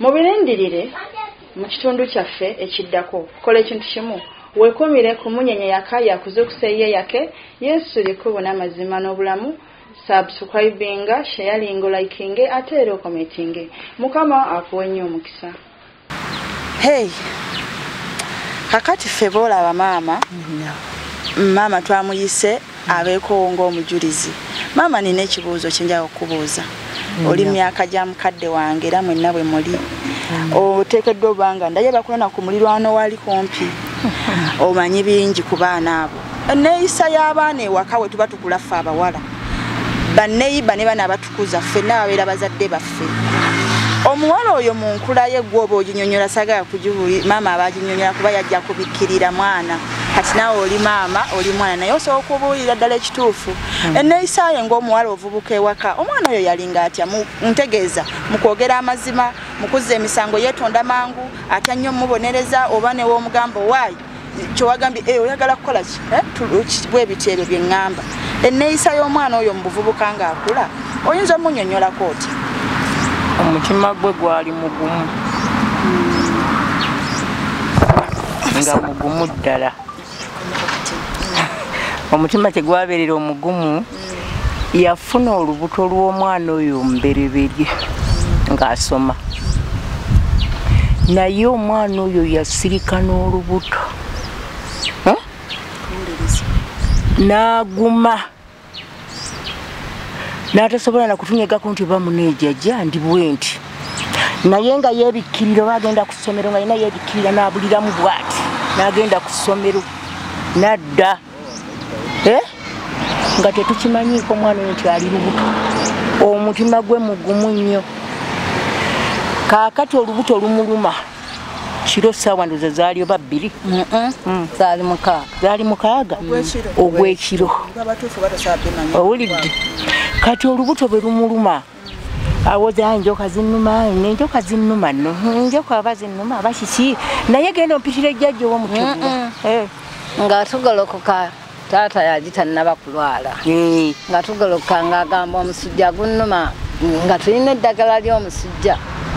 Mubirindirire mu kitundu kyaffe ekiddako. Kola ekintu kimu, Weekumire ku Munyenye Yaka Yakuzuukuse Yye Yake Yesu Lye Kkubo N'amazima N'obulamu Subscribinga, Sharinga Olayikinge Ate Era Okometinge. Mukama Akuwe Nnyo Omukisa. Hey, kakati ffe boolaba maama maama twamuyise abeekowo ng'omujulizi maama nina ekibuuzo kyenjaga okukubuuza mm. oli myaka gya mukadde wange era mwenna bwe muli mm. oteekeddwa obanga ndaye bakulana ku mulirwano waali kumpi omanyi bingi ku baana abo enneeyisa y'abaana ewaka we tuba tukulaffe abawala banneyiba ne bana kuza ffe n'ababeera bazadde baffe omuwala oyo mu nkula ye gwe oba oginyonyola sagala kugibuli maama aba aginyonyola kuba yajja kubikkirira mwana kati naawe oli maama oli mwana naye osobola okubuulira ddala ekituufu hmm. enneeyisa ye ng'omuwala ovubuka ewaka omwana oyo yalinga atya ntegeeza mu kwogera amazima mu kuzza emisango yeetonda mangu atya nnyo omubonereza oba new'omugamba owaayi kyewagambye eh, oyagala kukola eh, bwebiti ebyo byeŋŋamba enneeyisa y'omwana oyo mu buvubuka ng'akula oyinza omunyonyolako oti omutima gwe gwali mugumu hmm. nga mugumu ddala omutima tegwabeerera omugumu yafuna olubuto lw'omwana oyo omubereberye ng'asoma naye omwana oyo yasirika n'olubuto n'aguma n'atasobola na kutunyegako nti oba muneejajja ndi bwenti naye nga yeebikkirira oba agenda ku ssomero nga yena yeebikkirira n'abuliramu bwati n'agenda ku ssomero n'adda eh? nga tetukimanyiiko omwana oyo nti ali lubuto omutima gwe mugumu nnyo kaakati olubuto lumuluma kiro saawa ndoza zaali oba bbiri mm. zaali mukaaga zaali mukaaga ogwekiro owulidde kati olubuto bwe lumuluma awoza enjoka zinuma nenjoka zinuma no enjoka aba zinuma bakiki naye genda ompitira ejjajja owomutuuo eh. nga tugolokoka taata yagitanaba kulwala eh. nga tugolokoka ngaagamba omusujja gunuma nga tulina eddagala ly'omusujja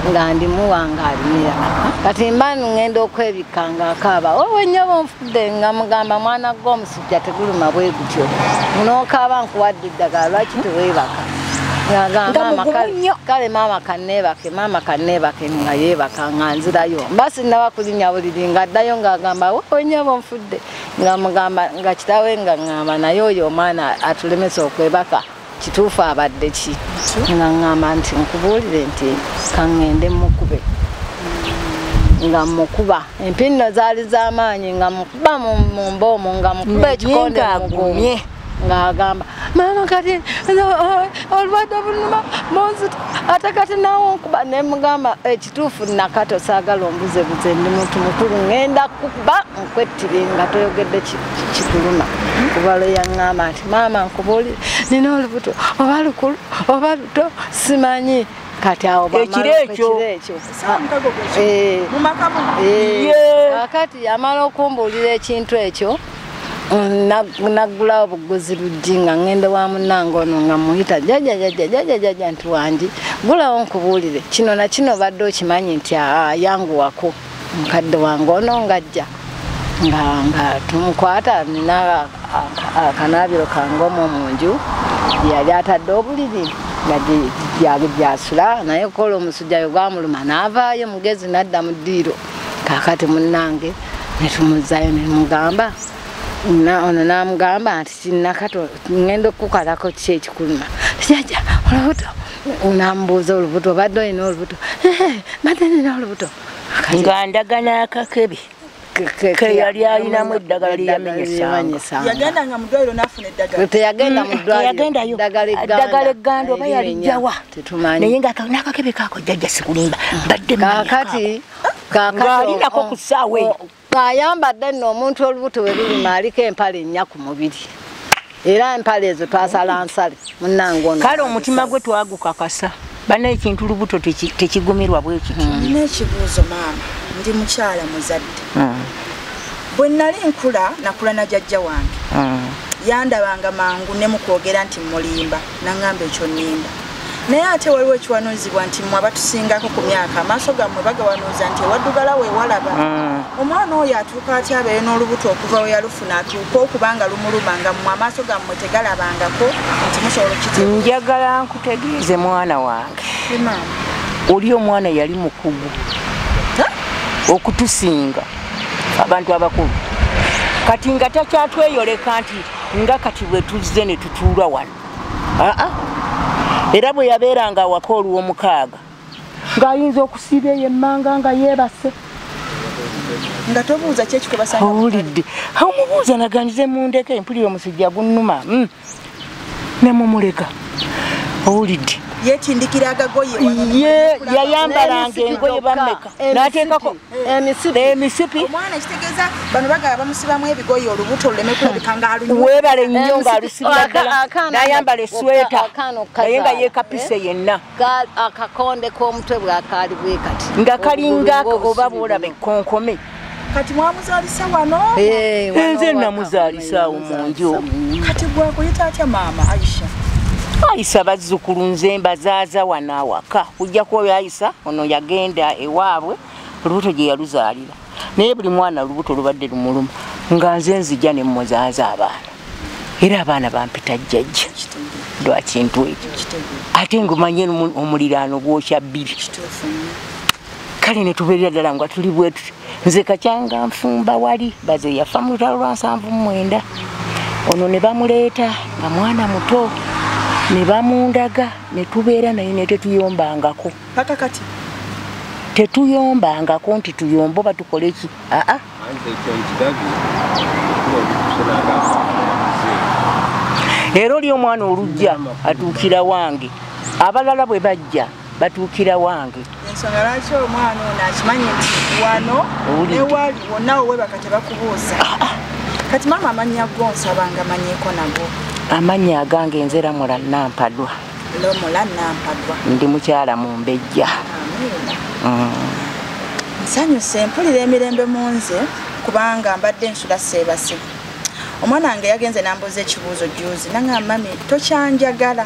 nga ndimuwa ng'alimira kati mba ngenda okwebikka ng'akaaba owenyoba onfudde nga mugamba mwana gwomusu omusajja teguluma bwe gutyo munookaaba nkuwadde eddagala lwaki teweebaka kale maama kaneebake maama kaneebake nga yeebaka nga nzirayo mba sinnaba kulinya buliri nga addayo ng'agamba onyabo nfudde nga mugamba nga kitawe nga ŋŋamba naye oyo omwana atulemesa okwebaka kituufu abadde ki nga ŋŋamba nti nkubuulire nti kaŋŋende mukube nga mukuba empinno zaali z'amaanyi nga mukuba mu mba omu nga mukuba ekikonde mugumye ng'agamba maama kati olwadde obunuma munzita ate kati nawe nkuba ne mugamba kituufu nakato saagala ombuzebuze ndi muntu mukulu ŋŋenda kuba nkwettire nga toyogedde kikuluma kuba lweyaŋŋamba nti maama nkubuuli nina olubuto oba lukulu oba luto simanyi kati awo ekiro ekyo eh, eh, akati yamala okumbuulira ekintu ekyo nagula obuguzi luggi nga ngende wa munange ono nga muyita jajajajajajajaja nti wangi gulawo nkubuulire kino nakino badde okimanyi nti ayanguwako mukadde wange ono ngajja nga tumukwata nina akanaabiro kangomu mu nju yali atadde obuliri nga gyasula naye kola omusujjayo gwamuluma naavaayo mugezi nadda mu ddiiro kakati munange netumuzzayo nemugamba ono namugamba nti kinakato ngenda okukukalako ki ekikuluma jaja olubuto namubuuza olubuto obadde olina olubuto mbadde nina olubuto nga ndagana akakebe keyali alinamu eddagala lyeyamenyesangateyagenda muddagala egganda oba yalijjawa tetumanyi naye nga nakakebe kako jajja sikulimba badde kakati kakalinako ku ssaawa eyo ng'ayambadde nno omuntu olubuto we lulima aliko empale ennya ku mubiri era empale ezo twasala nsale munnange ono kale omutima gwe twagukakasa bana ekintu lubuto tekigumirwa bwekiti hmm. nina ekibuuzo maama ndi mukyala muzadde hmm. bwe nnali nkula nakula na jajja wange hmm. yandabanga mangu ne mu kwogera nti mulimba nangamba ekyo ninda naye ate waliwo ekiwanuuzibwa nti mwe abatusingako ku myaka amaaso gammwe bagawanuuza nti ewaddugala wewalaba mm. omwana oyo atuuka aty abeere n'olubuto okuva we yalufuna atuuka okubanga lumuluma nga mwe amaaso gammwe tegalabangako nti musobola okit njagala nkutegeeze mwana wange oli omwana yali mukugu okutusinga abantu abakulu kati nga takyatweyoleka nti nga kati bwe tuzze ne tutuula wano aa era bwe yabeeranga awaka olw'omukaaga ng'ayinza okusiiba eyo emmanga nga yeebase nga tobuuza ki ekikwebasaawulidde omubuuza naganyize mu ndeka empulira omusujja gunnuma hmm. ne mumuleka owulidde yetindikira agagoye yayambalanga engoye bameka nateekako emisipi omwana kitegeza bano bagala bamusibamu ebigoyi olubuto luleme kulabika nga aluwebale nnyo nga alusibianayambala esweta naye nga yekapise eh? yenna akakonde k'omutwe bwakaali bwe kati nga kalinga oba bwolaba ekkonkome kati mwamuzalisa wano eh, enze namuzalisaawo munju kati gwakuyita atya maama aisha ayisa bazzukulu nze mbazaaza wano awaka kujja kuba Kisa ono yagenda ewaabwe olubuto gye yaluzaalira naye buli mwana olubuto lubadde lumuluma nga nze nzija ne mmuzaaza abaana era abaana bampita jjajja lwa kintu ekyo ate ngumanye omuliraano gwokya bbiri kale ne tubeerera ddala nga tuli bwetuti nze kakyanga nfumba wali baze yafa mu lutalo lwa nsanvu mumwenda ono ne bamuleeta nga mwana muto ne bamundaga ne tubeera naye ne tetuyombangako paka kati tetuyombangako nti tuyomba oba tukole ki aa era oli omwana olujja atuukira wange abalala bwe bajja batuukira wange ensonga lwaki omwana ono akimanyi nti wano newali wonna wewebaka tebakubuuza ah, ah. kati maama amannya go nsabanga manyeko nago amannya agange nzera mula nampadwa lomula nampadwa ndi mukyala mu mbejja mm. nsanyuse mpulira emirembe mu nze kubanga mbadde nsula seebase omwana wange yagenze nambuuza ekibuuzo juzi nangamba mami tokyanjagala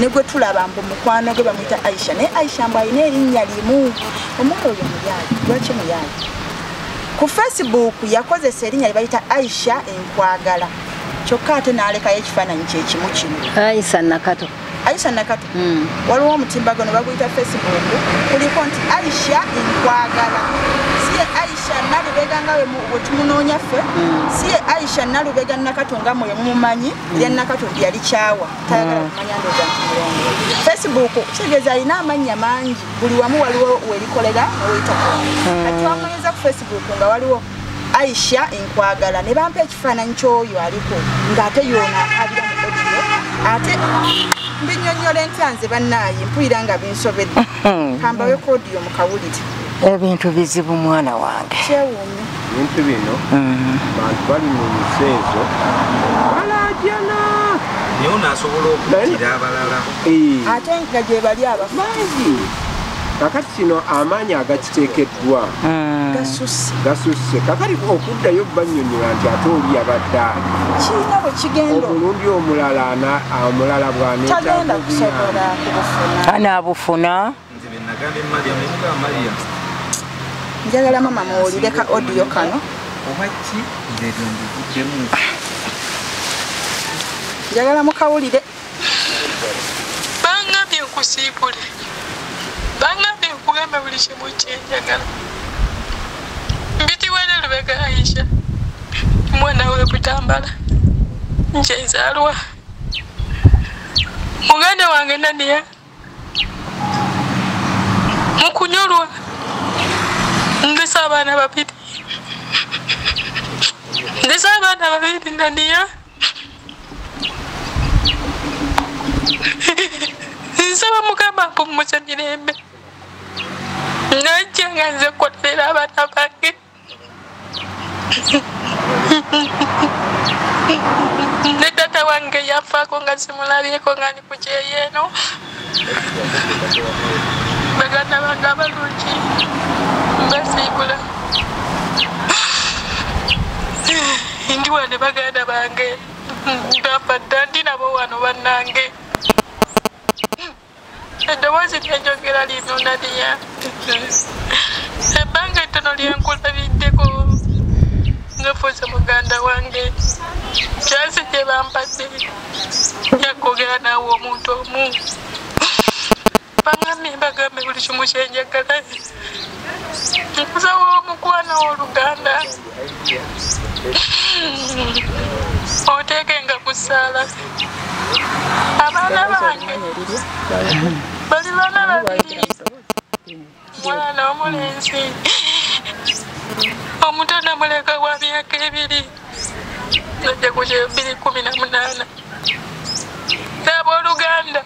ne gwe tulaba mbu mukwano gwe bamuyita aisha naye aisha mbu alina erinnya limu omwana oyo muyaali lwaki muyaali ku facebook yakozesa erinnya lye bayita aisha enkwagala kyokka ate n'alekayo ekifaananyi kyekimu kino aisha nakato aisha nakato hmm. waliwo omutimbagano baguyita facebook kuliko nti aisha enkwagala siye aisha nalubega nga wetumunoonya ffe hmm. siye aisha nalubega nakato nga mwe mumumanyi hmm. ya nakato yali kyawa tayagala mm. kumanya ndoza nti mulongo facebook kitegeeza alina amannya mangi buli wamu waliwo welikolera neweyitako mm. kati wamunyeza ku facebook nga waliwo aisha enkwagala ne bampa ekifaananyi kyoyo aliko ng'ate yona abira mu odiyo ate mbinyonyola entya nze bannaaye mpulira nga binsobedde kambawe kodiyo mukawulire ebintu bizibu mwana wange ebintu bino mm. bantu bali mu nsi ezo balajana naye ono asobola okutira abalala eh. ate nga gyebali abamangi kakati kino amaanyi agakiteekeddwa mm. gasusse kakati okuddayo banyonyola nti ate oli yabadde omulundi omulala omulala bwanetaanaabufuna njagala mama muwulire ka audio kano njagala mukawulire bangambye nkusiibule bangambye nkugambe buli kimu kyenjagala mbitiwere lubega aisha mwana we butambala nkyenzalwa muganda wange naniya mukunyolwa ndese abaana babiri ndese abaana babiri naniya nsaba mugamba mpumuse mirembe najja nga nze koterera abaana bange ne tata wange yafaako nga simulabyeko nga ndi ku kyeyeeno baganda bange abalungi mbasiibula ndi wane baganda bange ndamba dda ndi nabo wano bannange eddoboozi lyanjogera lino naliya ebbanga ettono lyankulabiddeko ngafuuse muganda wange kyasi gye bampadde yakwogera naawe omuntu omu bangambye mbagambe buli kimu kyenjagala nkuzawo omukwano w'oluganda oteekenga ku ssaala abaana bange bali baana babiri mwana omulenzi omuto namuleka wa myaka ebiri najja ku kyebiri kumi na munaana n'abooluganda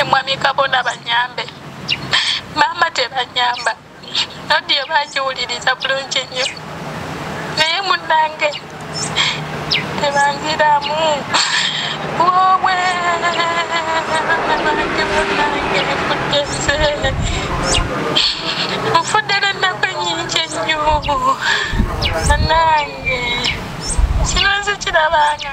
emwami kabona banyambe maama tebanyamba nodiyo bakiwuliriza bulungi nnyo naye munange tebanziramu wowe bange munange kutese nfudde nennaku enyingi ennyo munange kino nzikirabanga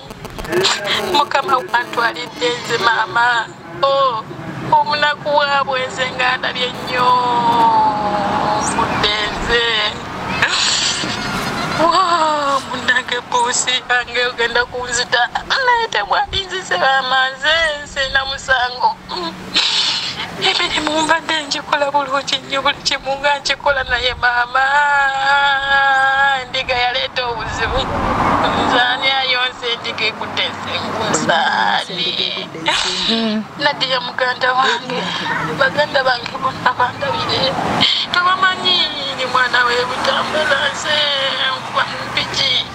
mukama wantwalidde nze maama o oh, omunaku waabwe nze nga ndabye nnyo nfudde nze munange buusi ange ogenda kunzita naye temwalinzise bamaze nze na musango emirimu mbadde ngikola bulungi nnyo buli kimu nga nkikola naye maama endiga yaleeta obuzibu nzani ayonsa endiga ekutte ensengusaani nadiya muganda wange baganda bange bonna bandabire tebamanyi ni mwana webutambula nze nkuba mupiki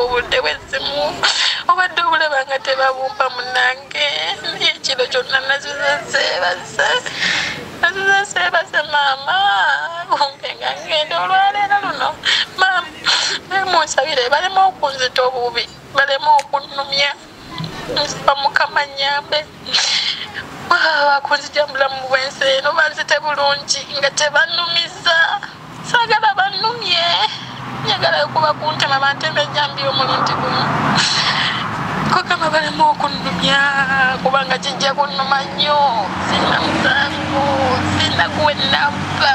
obudde bwezimu obadde obulaba nga tebabumpa munange naye ekiro kyonna naziza seebase naziza seebase maama bumpe nga ngenda olwaleero luno maama munsabire balema okunzita obubi balema okunnumya nziba mukama nyambe kunzija mulamu bwensi eno banzite bulungi nga tebanumiza sagala banumye njagala okuba kuntema bantema ejambi omulundi gumu kukama balemu okunumya kubanga kijja kunuma nnyo sina musango sina kuwenamba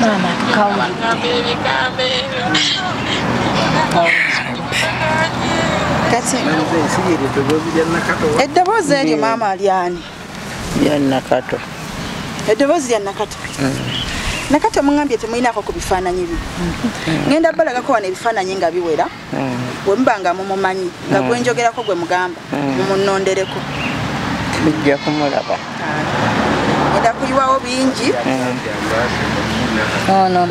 Mama, kauli. Kati eddoboozi eryo maama alyani ya nakato eddoboozi lya nakato nakato mungambye temulinako ku bifaananyi bye ngenda balagako wano ebifaananyi nga biwera wemuba nga mumumanyi nga mm. gwenjogerako gwe mugamba mm. mumunondereko tujja kumulaba ah. enda kuyiwawo bingi mm.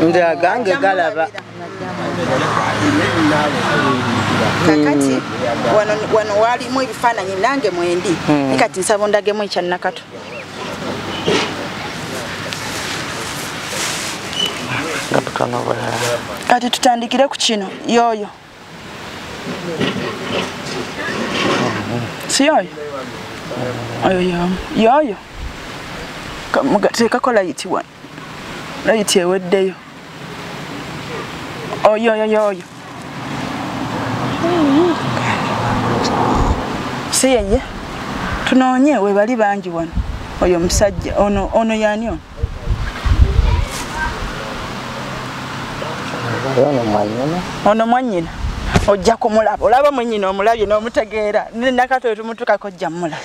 nze agange galaba kakati wano walimu ebifaananyi nange mwendi nikati nsaba ondagemu ekyanakato kati tutandikire ku kino yoyo si yoyo oyo yoyo yoyo tekakolaiti wano layiti eweddeyo oyoyoyoyo si yeye tunoonye webali bangi wano oyo omusajja ono ono yani ono ono mwanyina ojja kumulaba olaba mwenyina omulabye n'omutegeera nakatoyo tumutukako ojja mulaba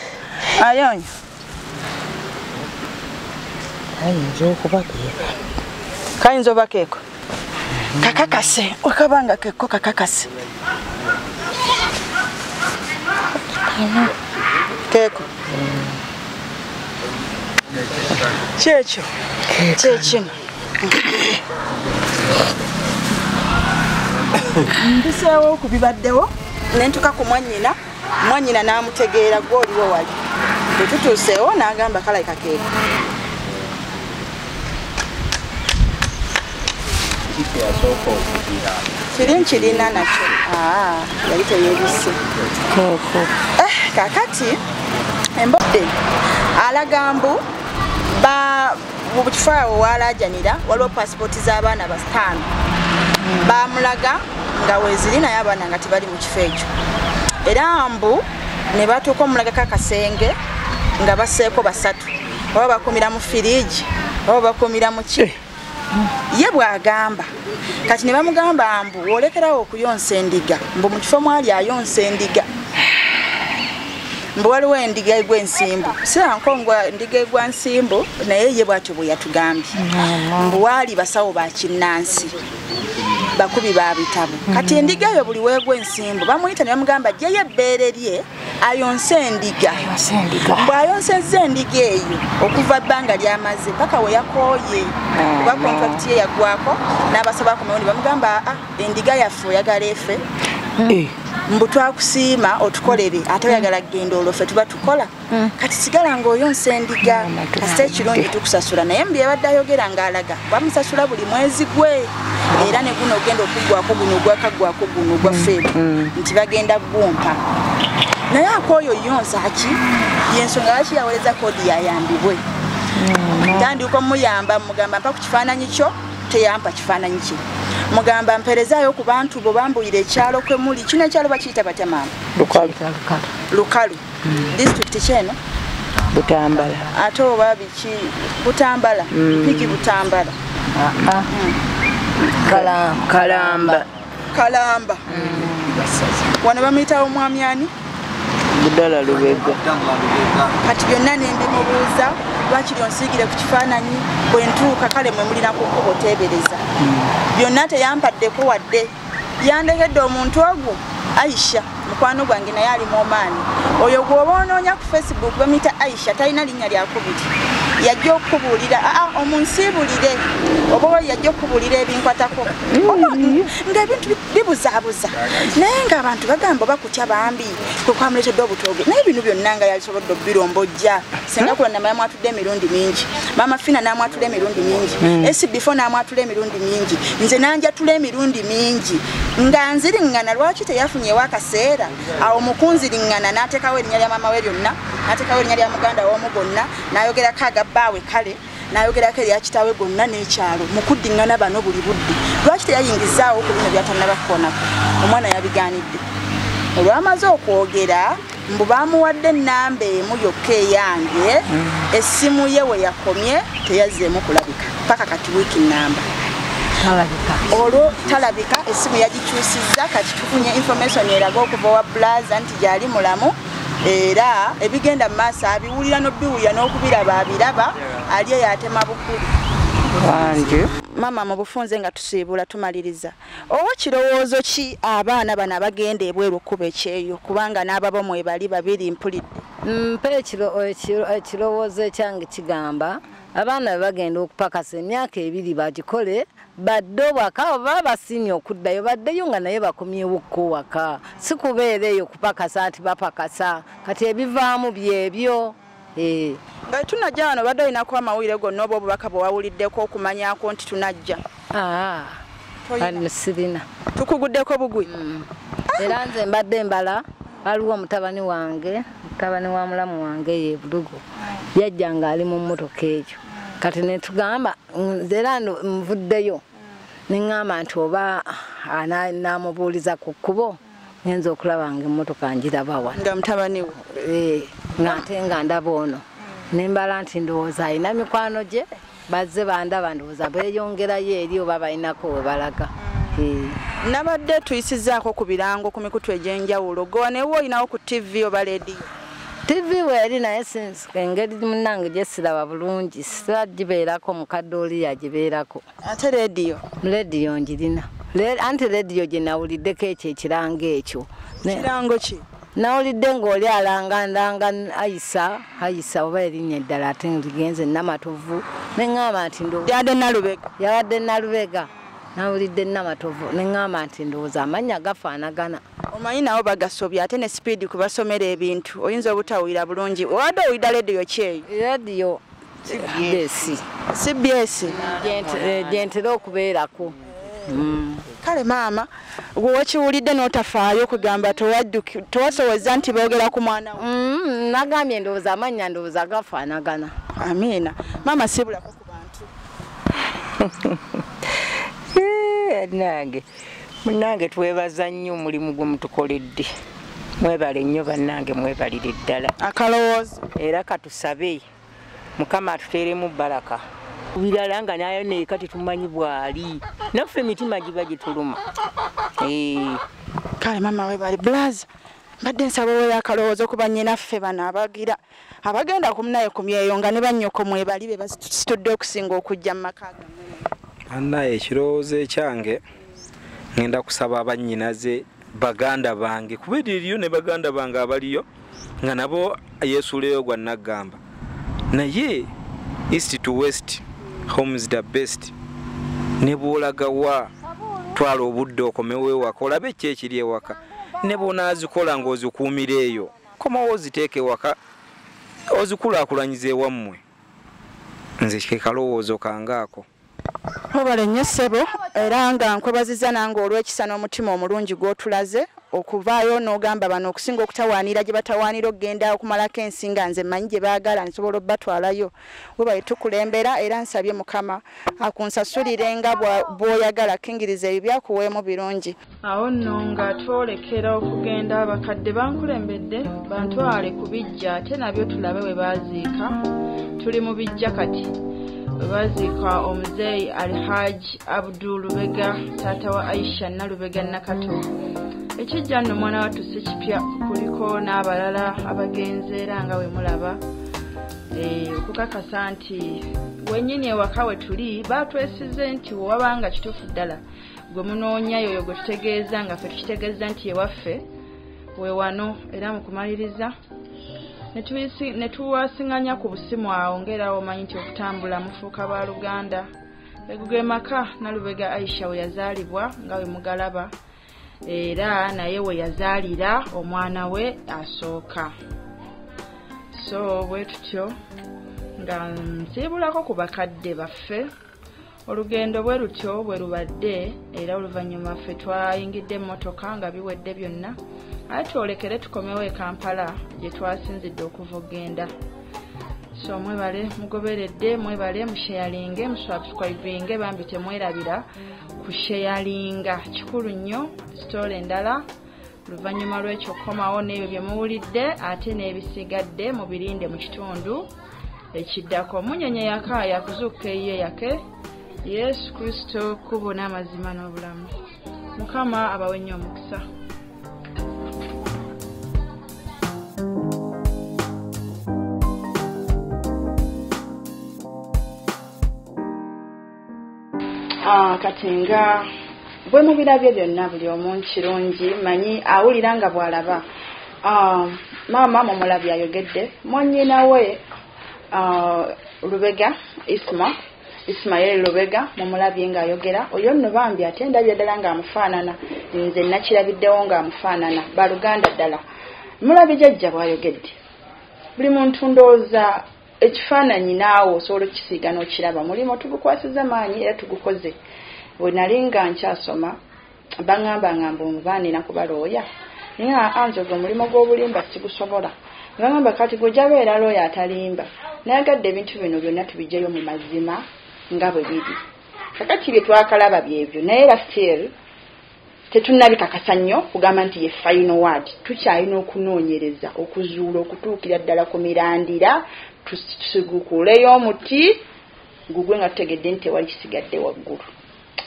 ayonyo kayinza okuba keeko kayinza oba keeko kakakase okaba nga kekko kakakase keeko kyekyo kyekino mbiseewo okubibaddewo nentuka ku mwanyina mwanyina n'amutegeera gwe oliwo wali bwe tutuuseewo n'agamba kalaika keeko kiri nkirina nakyo ah, yali teyebise eh, kakati embodde alaga mbu mu kifo awo waalaajanira waliwo paasipooti z'abaana basitaano baamulaga nga weeziri naye abaana nga tebali mu kifo ekyo era mbu ne batuuka omulagako akasenge nga baseeko basatu oba bakumira mu firiigi oba bakumira mu ki eh. ye bw'agamba kati ne bamugamba mbu olekerawo okuyonsa endiga mbu mu kifo mwali ayonsa endiga mbu waliwo endiga egwa ensimbu sirankonga ndiga egwa nsimbu naye ye bwatyo bwe yatugambye mbu waali basawo ba kinnansi bakubi ba bitabo kati endiga eyo buli weegwa ensimbu bamuyita ne bamugamba jjeyo ebbeere lye ayonse endiga bw'ayonsezza endiga eyo okuva bbanga ly'amaze paka we yakooye ah, kuba kontrakiti ye yagwako n'abasaba akomewo ne bamugamba a ah, endiga yaffe oyagala efe hmm. eh. mbu twakusiima otukolere ate oyagala kugenda olwo ffe tuba tukola hmm. kati sigala ng'oyonsa endiga kasita ekirungi tukusasula naye mu byebadde ayogera ng'alaga bamusasula buli mwezi gwe era ne guno ogenda okuggwako guno ogwakaggwako guno ogwa mm. feebu mm. nti bagenda gumpa naye akooyo yonsa ki yensonga lwaki yawoleza koodi yayambibwe mm, tandiuka omuyamba mugamba mpa ku kifaananyi kyo teyampa kifaananyi kye mugamba mperezayo ku bantu bo bambuyira ekyalo kwe muli kino ekyalo bakiyita batya maama lukalu disitulikiti ki eno butambala ate oba biki butambala mm. piki butambala ah, ah. Mm. kalamba kalamba mm. wano bamuyita omwami ani budala lubega kati byonna nembimubuuza lwaki lyonsiigire ku kifaananyi bwentuuka kale mwe mulina kukuba oteebereza byonna teyambaddeko wadde yandegedde omuntu ogwo aisha mukwano gwange naye ali muomaani oyo gwoba onoonya ku facebook bamuyita aisha talina linnya lyakubiri yajja okukubuulira aa ah, ah, omunsiibulire oba oli yajja okukubuulira ebinkwatako mm. nga ebintu bibuzaabuza naye ngaabantu bagamba oba kutya bambi kwekwamuletedde obutooge naye bino byonna nga yasobodde obirombojja singa kulonda maya mwatudde emirundi mingi maama fina namwatula emirundi mingi hmm. esibifo namwatula emirundi mingi nze nanjatula emirundi mingi nga nziriŋŋana lwaki teyafunyewo akaseera awo mukunziriŋŋana natekawo erinya lya maama we lyonna natekawo erinya lya muganda womu gonna nayogerako agabbaawe kale n'ayogerako erya kitaawe gonna n'ekyalo mu kuddiŋŋana bano buli budde lwaki teyayingizaawo ku bino byatannaba kukoonako omwana yabigaanidde olwamaze okwogera mbu baamuwadde ennamba emu yokka eyange essimu ye we yakomye teyazzeemu kulabika paka kati wiiki nnamba olwo talabika essimu yagikyusizza kati tufunye information eraga okuva wa bulaza nti gyali mulamu era ebigenda mu maaso abiwulira n'obiwulira n'okubiraba abiraba ali eyo atema bukulu maama mu bufunze nga tusiibula tumaliriza owa kirowoozo ki abaana bano abagenda ebweru okuba ekyeyo kubanga n'ababo mwebali babiri mpulidde mpa ekirowoozo ekyange kigamba abaana bebagenda okupakasa emyaka ebiri bagikole badde obwaka abo baba basiimye okuddayo baddeyo nga naye bakomyewo kko waka si kubeera eyo kupakasa nti bapakasa kati ebivaamu byebyo eh. nga tunajja wano badde olinaku amawulire gonna oba obubaka bwe wawuliddeko okumanyako nti tunajja ah, sirina tukuguddeko bugwi mm. era nze mbadde mbala waliwo omutabani wange mutabani wa mulamu wange eyo ebulugo yajja ng'ali mu mmotoka egyo kati netugamba era nvuddeyo neŋŋamba nti oba naamubuuliza ku kkubo ngenza okulaba nga emmotoka njiraba wa nga mutabani wo eh, ng'ate nga ndaba ono nembala nti ndowooza alina mikwano gye bazze bandaba ndowooza beeyongerayo eri oba balinako we balaga hmm. nabadde tuyisizaako ku birango ku mikutu egy'enjawulo gowa naye woolinawo ku ttivi oba leediyo ttivi weeri naye engeri munange gyesiraba bulungi sira gibeerako mukadde oli yagibeerako ate leediyo leediyo ngirina anti leediyo gye nawuliddeko ekyo ekirango ekyo kirango ki nawulidde ng'oli alangandanga ayisa ayisa oba erinnya eddala ate ligenze namatovu neŋŋamba nti yabadde nalubega yabadde nalubega nawulidde namatovu neŋŋamba nti ndowooza amannya gafaanagana omanyi nawo bagasobya ate ne sipiidi kubasomera ebintu oyinza obutawulira bulungi obadde owulira lediyo kyeyo lediyo cbs cbs gyentera eh, okubeerako mm. kale maama gwe wakiwulidde n'otafaayo okugamba towasowozza nti boogera ku mwana we mm, nagambye ndowooza amannya ndowooza gafaanagana amiina maama sibulako ku bantu eh, nange munange twebaza nnyo omulimu gwe mutukoledde mwebale nnyo bannange mwebalire ddala akalowoozo era katusabe mukama atuteeremu baraka birala nga nayo naye kati tumanyi bwali naffe emitima giba gituluma eh. kale mama webali blaza mbadde nsaba owoyo akalowoozo kuba nyinaffe bano abagira abagenda kumunaye ku myeyo nga ne bannyoko mwebali be basitudde okusinga okujja mu maka annaye ekirowoozo ekyange ŋenda kusaba bannyinaze baganda bange kuba eririyo ne baganda bange abaliyo nga nabo yesuuleyo gwa naggamba naye east to west homes the best ne bwolagawa twala obudde okomewo ewaka olabe ki ekiri ewaka ne bwonaazikola ng'ozikuumira eyo komawo oziteeka ewaka ozikulaakulanyiza ewammwe nze kekalowoozo kangaako webale nnyo ssebo era nga nkwebaziza nange olw'ekisa n'omutima omulungi gw'otulaze okuvaayo n'ogamba bano okusinga okutawaanira gye batawaanira okugenda okumalako ensi nga nze mmanyi gye baagala nsobola obatwalayo webale tukulembera era nsabye mukama akunsasulire nga bw'oyagala kingiriza ebyo byakuweemu birungi awo nno nga twolekera okugenda abakadde bankulembedde bantwale ku bijja ate nabyo tulabe bwe baaziika tuli mu bijja kati bwe baaziika omuzeeyi alhaji abdu lubega taata wa aisha nalubega nakato ekijja nno omwana wattu si kipya kuliko n'abalala abagenze era nga bwe mulaba eh, okukakasa nti wenyini ewaka we tuli baatwesize nti wewabanga kituufu ddala gwe munoonya yoyo gwe tutegeeza nga ffe tukitegeeza nti ewaffe we wano era mu kumaliriza ne tuwasinganya ku busimu awo ng'era womanyi nti okutambula mufuuka ba luganda eguge maka nalubega aisha we yazaalibwa nga we mugalaba era naye we yazaalira omwana we asooka so bwe tutyo nga nsiibulako ku bakadde baffe olugendo bwe lutyo bwe lubadde era oluvannyuma ffe twayingidde emmotoka nga biwedde byonna aye twolekere tukomewo e kampala gye twasinzidde okuva okugenda so mwebale mugoberedde mwebale musheyalinge musubscribinge bambi temwerabira kusheyalinga kikulu nnyo sitoola endala oluvannyuma lw'ekyo kukomawo n'ebyo bye muwulidde ate n'ebisigadde mu birinde mu kitundu ekiddako munyonyo yaka yakuzuukuka eyiye yake yesu kristo kubo n'amazima n'obulamu mukama abawe nnyo omukisa ah, kati nga bwe mubirabye byonna buli omu kirungi manyi awulira nga bw'alaba ah, maama mumulabi ayogedde mwanyina we ah, lubega isma ismael lubega mumulabye ng'ayogera oyo nno bambi ate ndabye ddala ng'amufaanana nze nakirabiddewo ng'amufaanana baluganda ddala mulabye jajja bw'ayogedde buli muntu ndowooza Ekifaananyi naawe osobola okukisiiga n'okiraba. Omulimu tugukwasizza maanyi era tugukoze. Bwe nali nga nkyasoma, baŋambanga mbu nva nina kuba looya. Naye aa nze ogwo omulimu gw'obulimba sigusobola. Ne baŋamba kati gwe ojja beera looya atalimba. Nayagadde ebintu bino byonna tubiggyeyo mu mazima nga bwe biri. Kakati bye twakalaba byebyo naye era still. Tetunnabikakasa nnyo kugamba nti ye final word. Tukyalina okunoonyereza okuzuula okutuukira ddala ku mirandira tusigukuuleyo omuti gugwe nga tutegedde nti tewali kisigadde waggulu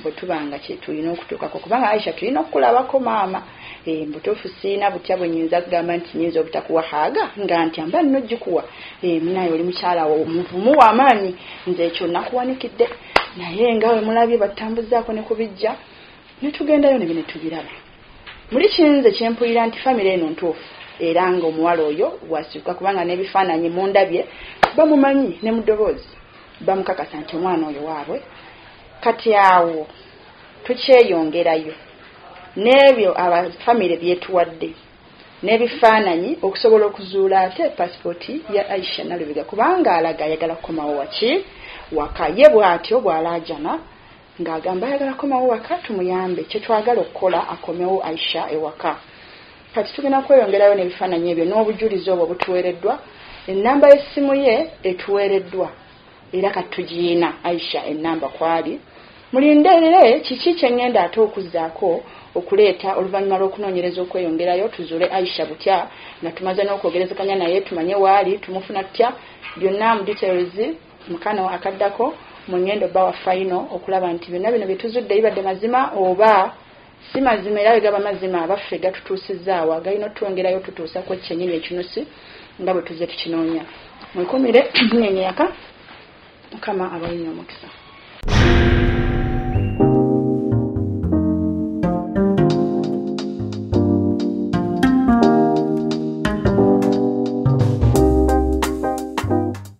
bwe tuba nga kye tulina okutuukako kubanga aisha tulina okukulabako maama eh, mbutuufu siina butya bwe nyinza kugamba nti nyinza obutakuwa haaga nga nti amba nno gikuwa eh, munaye oli mukyala wo muvumu wamaanyi nze ekyo nakuwanikidde naye nga wemulabye batambuzaako ne kubijja Netugendayo nebyo netubiraba muli kinze kyempulira nti famire eno ntuufu era nga omuwala oyo wasyuka kubanga nebifaananyi mundabye bamumanyi ne mudoboozi bamukakasa nti omwana oyo waabwe kati awo tukyeyongerayo n'ebyo abafamire byetuwadde n'ebifaananyi okusobola okuzuula ate pasipooti ya aisha nalubega kubanga alaga ayagala kukomawo waki waka ye bwatyo bwalaajana ng'agamba ayagala komawo waka tumuyambe kyetwagala okukola akomewo Aisha ewaka kati tugenda kweyongerayo n'ebifaananyi ebyo n'obujulizi obwo butuweereddwa ennamba y'essimu ye etuweereddwa era kati tugiyina Aisha ennamba kwali mulinderere kiki kye ngenda ate okuzzaako okuleeta oluvannyuma lw'okunoonyereza okweyongerayo tuzuule Aisha butya nga tumaze n'okwogerezeganya naye tumanye waali tumufuna tutya byonna mu details Mu kano akaddako mu ŋŋendo bba wa fayino okulaba nti byonna bino bye tuzudde bibadde mazima oba si mazima era bwe gaba mazima abaffe gatutuusizzaawa galina otutwongerayo otutuusa ku ekyenyini ekinusi nga bwe tuzze tukinoonya mwekumire munyenye yaka mukama abalinyo omukisa